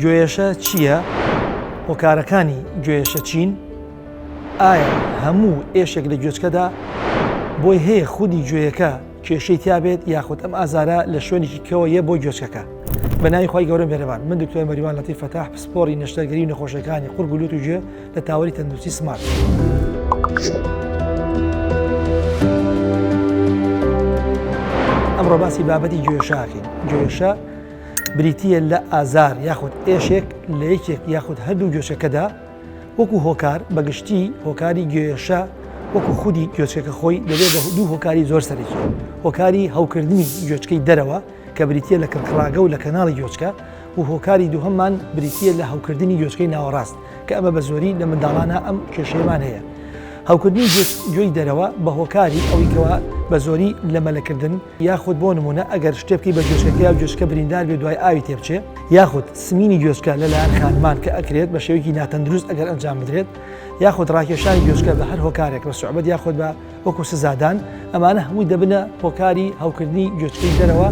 گۆێشە چییە؟ هۆکارەکانی گۆێشە چین؟ ئایا هەموو ئێشێک لە گۆێچکەدا بۆی هەیە خودی گۆێەکە کێشەی تیا بێت یاخود ئەم ئازارە لە شوێنێکی کەوە یە بۆ گۆێچکەکە؟ بە ناوی خوای گەورە مێرەبان من دکتۆر مەریوان لەتیف فەتاح پسپۆری نەشتەرگەری و نەخۆشیەکانی قورگ و لوت و گوێ لە تاوەری تەندروستی سمارت. ئەمڕۆ باسی بابەتی گوێشاکەین گوێشە بریتییە لە ئازار یاخود ئێشێک لە یەکێک یاخود هەردوو گوێچەکەدا، وەکو هۆکار، بە گشتی هۆکاری گوێێشە وەکو خودی گوێچکەکە خۆی دەبێت بە دوو هۆکاری زۆر سەرەکی، هۆکاری هەوکردنی گوێچکەی دەرەوە کە بریتییە لە کڕکڕاگە و لە کەناڵی گوێچکە و هۆکاری دووهەممان بریتییە لە هەوکردنی گوێچکەی ناوەڕاست کە ئەمە بە زۆری لە منداڵانە ئەم کێشەیەمان هەیە هەوکردنی گوێی دەرەوە بە هۆکاری ئەویکەوە بە زۆری لە مەلەکردن یاخود بۆ نموونە ئەگەر شتێ بکەی بە گوێچکەکە یا گوێچکە بریندار بێ دوای ئاوی تێ بچێ یاخود سمینی گوێچکە لەلایەن خانمان کە ئەکرێت بە شێوەیەکی ناتەندروست ئەگەر ئەنجام بدرێت یاخود ڕاکێشانی گوێچکە بە هەر هۆکارێک بە سوعبەت یاخود بە وەکو سزادان ئەمانە هەمووی دەبنە هۆکاری هەوکردنی گوێچکەی دەرەوە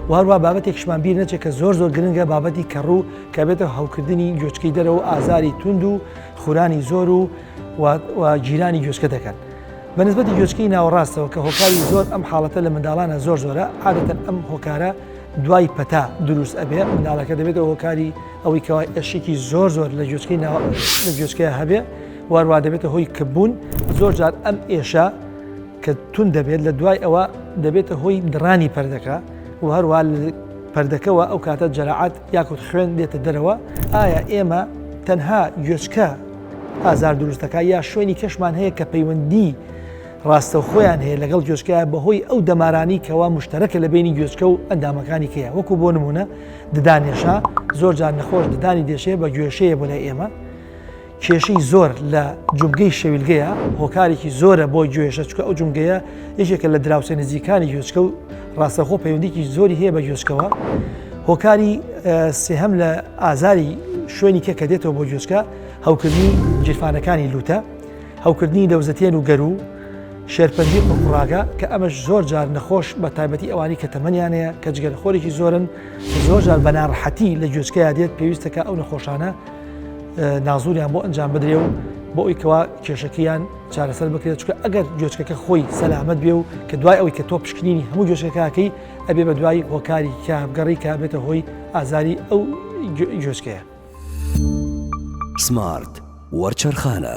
و هەروە بابەتێکشمان بیر نەچێت کە زۆر زۆر گرنگە بابەتی کەڕوو کە بێتە هەوکردنی گوێچکەی دەرەوە ئازاری توند و خورانی زۆر و و گیرانی گوێچکە دەکەن. بە نسبەتی گوێچکەی ناوەڕاستەوە کە هۆکاری زۆر ئەم حاڵەتە لە منداڵانە زۆر زۆرە عادەتەن ئەم هۆکارە دوای پەتا دروست ئەبێ منداڵەکە دەبێتەوە هۆکاری ئەوەی کەوای ئەشێکی زۆر زۆر لە گوێچکەی ناوە لە گوێچکەیە هەبێ واروا دەبێتە هۆی کەبوون زۆر جار ئەم ئێشە کە تون دەبێت لە دوای ئەوە دەبێتە هۆی دڕانی پردەکە و هەروە پردەکەەوە ئەو کاتە جەرەعات یاکوت خوێن دێتە دەرەوە ئایا ئێمە تەنها گوێچکە ئازار دروست دەکات یا شوێنی کەشمان هەیە کە پەیوەندی ڕاستەوخۆیان هەیە لەگەڵ گوێچکە بەهۆی ئەو دەمارانی کەوا مشتەرەکە لە بینی گوێچکە و ئەندامەکانی کەیە وەکو بۆ نمونە ددانێشا زۆر جار نەخۆش ددانی دێشێ بە گوێشەیە بۆ لای ئێمە کێشەی زۆر لە جومگەی شەویلگەیە هۆکارێکی زۆرە بۆ گوێشە چکە ئەو جومگەیە یەکێکە لە دراوسێ نزیکانی گوێچکە و ڕاستەخۆ پەیوەندیکی زۆری هەیە بە گوێچکەوە هۆکاری سێهەم لە ئازاری شوێنی کە کە دێتەوە بۆ گوێچکە هەوکردنی جیرفانەکانی لوتە هەوکردنی لەوزەتێن و گەرو شێرپەنجی قڕاگە کە ئەمەش زۆر جار نەخۆش بە تایبەتی ئەوانی کە تەمەنیانەیە کە جگەر خۆرێکی زۆرن زۆر جار بەناڕحەتی لە گوێچکەیا دێت پێویستەکە ئەو نەخۆشانە نازوریان بۆ ئەنجام بدرێ و بۆ ئەویکەوە کێشەکەیان چارەسەر بکرێت چکە ئەگەر گوێچکەکە خۆی سەلامەت بێ و کە دوای ئەوی کە تۆ پشکنینی هەموو گوێچکەکەکەی ئەبێ بە دوای هۆکاری کابگەڕی کا بێتە هۆی ئازاری ئەو گوێچکەیە. سمارت وەرچەرخانە.